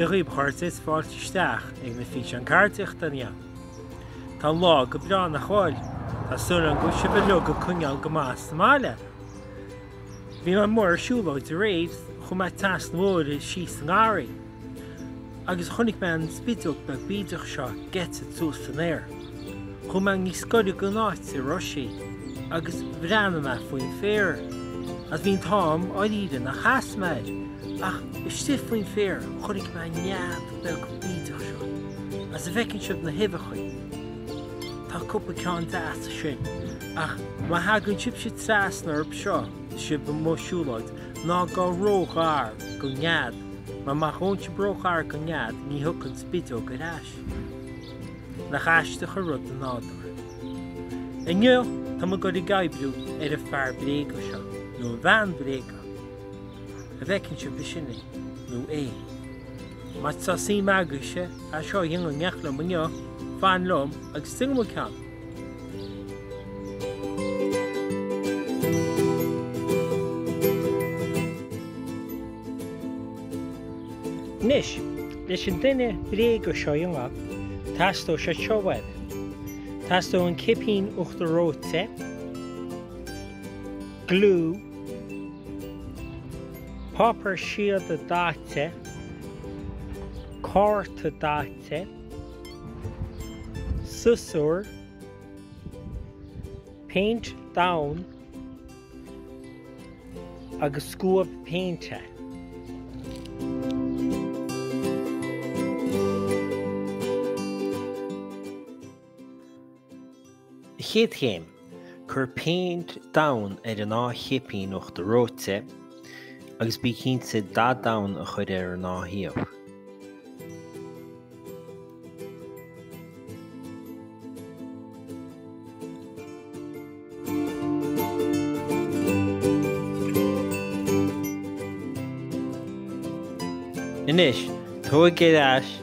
Dia dhaoibh a chairde is fáilte isteach ag na físeáin ceardaíochta inniu. Tá an lá go breá nach bhfuil? Tá súil agam go bhfuil sibh uilig ag coinneáil go maith sa mbaile. Bhí mé amuigh ar siúlóid aréir, chuaigh mé trasna an bhóthair síos sa ngarraí. Agus chonaic mé an spideog beag bídeach seo ag eitilt suas san aer. Chuaigh mé níos gaire don áit a raibh sí agus bhreathnaigh mé faoin féar. Agus bhí an t-ádh orm dáiríre nár sheas mé air ach istigh faoin féar chonaic mé an nead beag bídeach seo. Agus an bhfeiceann sibh na huibheachaí? Tá cúpla ceann deas ansin. Ach má thagann sibhse trasna orthu seo is sibh amuigh ag siúlóid, ná gabh róghar don nead, mar má théann sibh róghar don nead ní thiocfaidh an spideog ar ais. Nach aisteach an rud an nádúr. Inniu tá muid ag gabháil a bheith ag oibriú ar an fear bréige seo, nó an bhean bhréige, an bhfeiceann sibh ansin é nó í? Má tá suim agaibhse é seo a dhéanamh in éineacht liom inniu, fan liom agus déanfaidh muid ceann. Anois, leis an duine bréige seo a dhéanamh, teastóidh siad seo uaibh. Teastóidh an cipín uachtar reoite, gliú, páipéar síoda daite, cárta daite, siosúr, péint donn agus scuab péinte. Chéad Chéim, Cuir péint donn ar an dá chipín uachtar reoite agus bí cinnte dath donn a chur ar an dá thaobh. Anois, tóg ar ais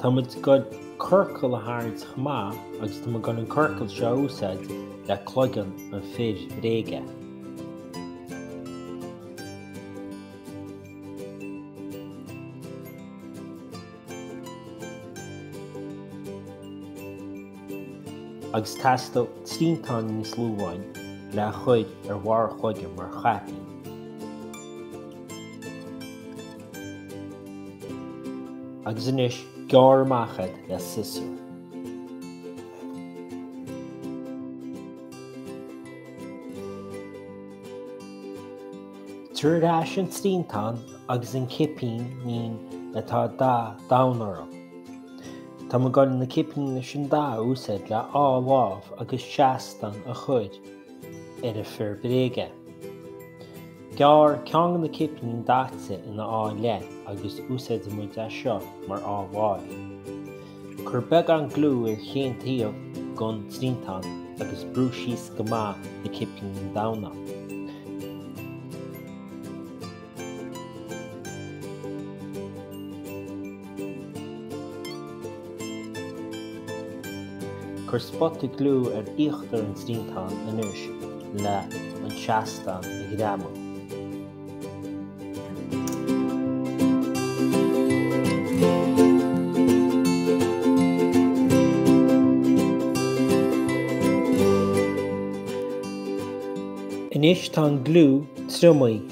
Tá muid ag gabháil ciorcal a tharraingt chomh maith agus tá muid ag gabháil an ciorcal seo a úsáid le cloigeann an fir bhréige. agus teastaíonn triantán níos lú amháin le chur ar bharr a chloigeann mar chaipín. Agus anois, gearr amach iad le siosúr. Tabhair ar ais an triantán agus na cipíní atá daite donn orm. Tá mé ag gabháil na cipíní sin a úsáid le dhá lámh agus seastán a chur ar an fear bréige. Gearr ceann de na cipíní daite in dhá leith agus úsáidfidh muid é seo mar dhá lámh. Cuir beagán gliú ar chaon taobh den triantán agus brúigh síos go maith na cipíní donna. Cuir spotaí gliú ar íochtar an triantáin anois le an seastán a ghreamú. Anois tá an gliú triomaithe.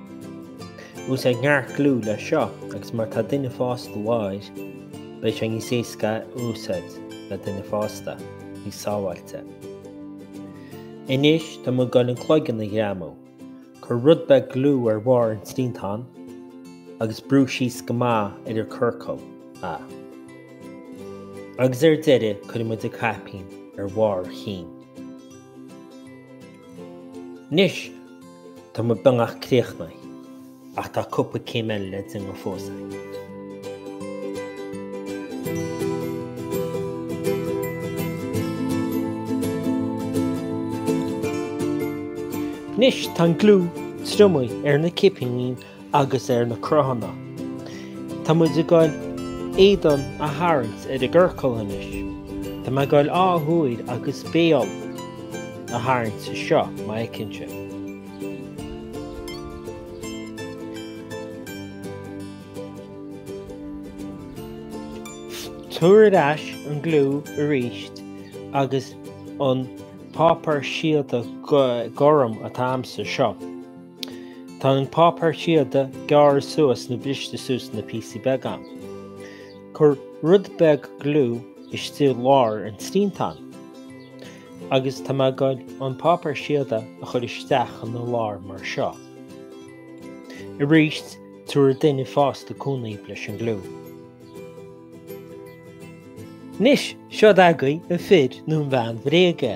Úsáid neart gliú leis seo agus má tá duine fásta uaidh, beidh sé níos éasca a úsáid le duine fásta, níos sábháilte. Anois tá muid ag gabháil an cloigeann a ghreamú. Cuir rud beag gliú ar bharr an triantáin agus brúigh síos go maith ar an gciorcal. Agus ar deireadh cuirfidh muid an caipín ar bharr a chinn. Anois, Tá muid beagnach críochnaithe, ach tá cúpla céim eile le déanamh fós. Anois tá an gliú triomaithe ar na cipíní agus ar na cruthanna. Tá muid ag gabháil éadan a tharraingt ar an gciorcal anois. Tá mé ag gabháil dhá shúil agus béal a tharraingt anseo mar a fheiceann tú. Tabhair ar ais an gliú arís agus an páipéar síoda gorm atá a'msa anseo. Tá an páipéar síoda gearrtha suas nó briste suas ina phíosaí beaga. Cuir rud beag gliú istigh i lár an triantáin agus tá mé ag gabháil an páipéar síoda a chur isteach ina lár mar seo. Arís, tabharfaidh duine fásta cúnamh leis an gliú. Anois, seod agaibh an fear nó an bhean bhréige.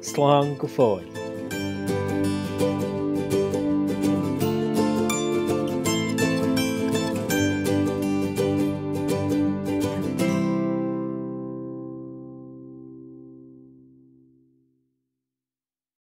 Slán go fóill.